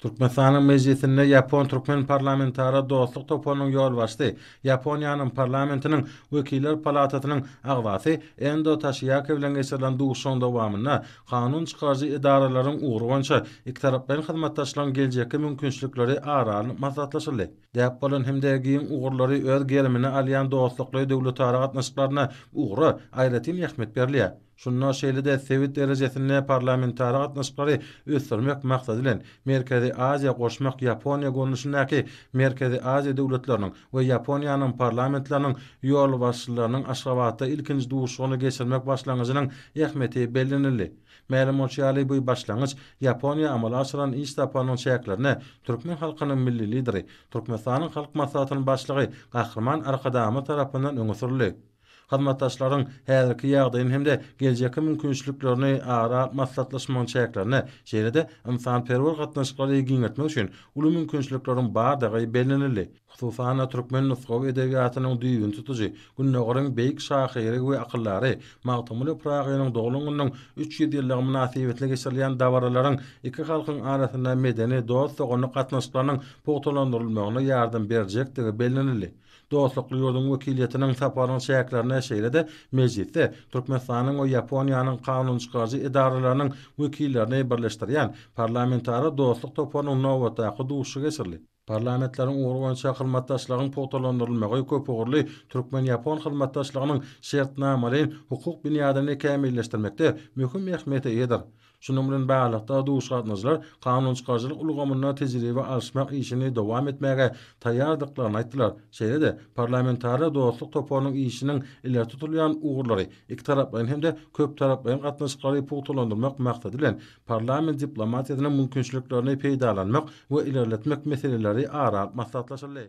Türkmenistanyň Mejlisinde ýapon-türkmen parlamentara dostluk toparynyň ýolbaşçysy, Ýaponiýanyň parlamentiniň Wekiller palatasynyň agzasy Endo Taşiýaki bilen geçirilen duşuşygyň dowamynda kanun çykaryjy edaralaryň ugry boýunça ikitaraplaýyn hyzmatdaşlygyň geljekki mümkinçilikleri ara alnyp maslahatlaşyldy. Däp bolan hem-de giň ugurlary öz gerimine alýan dostlukly döwletara gatnaşyklaryna ugra aýratyn ähmiýet berilýär. Şunda şeýle-de sebit derejesinde parlamentara gatnaşyklary ösdürmek maksady bilen, Merkezi Aziýa goşmak Ýaponiýa görnüşindäki Merkezi Aziýa döwletleriniň we Ýaponiýanyň parlamentleriniň ýolbaşçylarynyň Aşgabatda ilkinji duşuşygyny geçirmek başlangyjynyň ähmiýeti bellenildi. Mälim bolşy ýaly, bu başlangyç Ýaponiýa amala aşyran iş saparynyň çäklerinde türkmen halkynyň Milli Lideri, Türkmenistanyň Halk Maslahatynyň Başlygy Gahryman Arkadagymyz tarapyndan öňe sürüldi. hyzmatdaşlaryň häzirki ýagdaýyny hem-de geljekki mümkinçiliklerini ara alyp maslahatlaşmagyň çäklerinde, şeýle-de ynsanperwer gatnaşyklary giňeltmek üçin uly mümkinçilikleriň bardygy bellenildi. Hususan-da, türkmen nusgawy edebiýatynyň düýbüni tutujy, Gündogaryň beýik şahyry we akyldary Magtymguly Pyragynyň doglan gününiň üç ýüz ýyllygy mynasybetli geçirilýän dabaralaryň iki halkyň arasynda medeni, dost-doganlyk gatnaşyklarynyň pugtalandyrylmagyna ýardam berjekdigi bellenildi. Dostlukly ýurduň wekiliýetiniň saparynyň çäklerinde şeýle-de mejlisde Türkmenistanyň we Ýaponiýanyň kanunçykaryjy edaralarynyň wekillerini birleşdirýän Parlamentara dostluk toparynyň nobatdaky duşuşygy geçirildi. Parlamentleriň ugry boýunça hyzmatdaşlygyň pugtalandyrylmagy köpugurly türkmen-ýapon hyzmatdaşlygynyň şertnamalaýyn hukuk binýadyny kämilleşdirmekde möhüm ähmiýete eýedir. Şunuň bilen baglylykda, duýguş gatnaşyjylar kanun çykaryjylyk ulgamynda tejribe alyşmak işini dowam etmäge taýýardyklaryny aýtdylar. Şeýle-de, parlamentara dostluk toparynyň işiniň ileri tutulýan ugurlary, ikitaraplaýyn hem-de köptaraplaýyn gatnaşyklary pugtalandyrmak maksady bilen, parlament diplomatiýasynyň mümkinçiliklerini peýdalanmak we ilerletmek meseleleri ara alyp maslahatlaşyldy.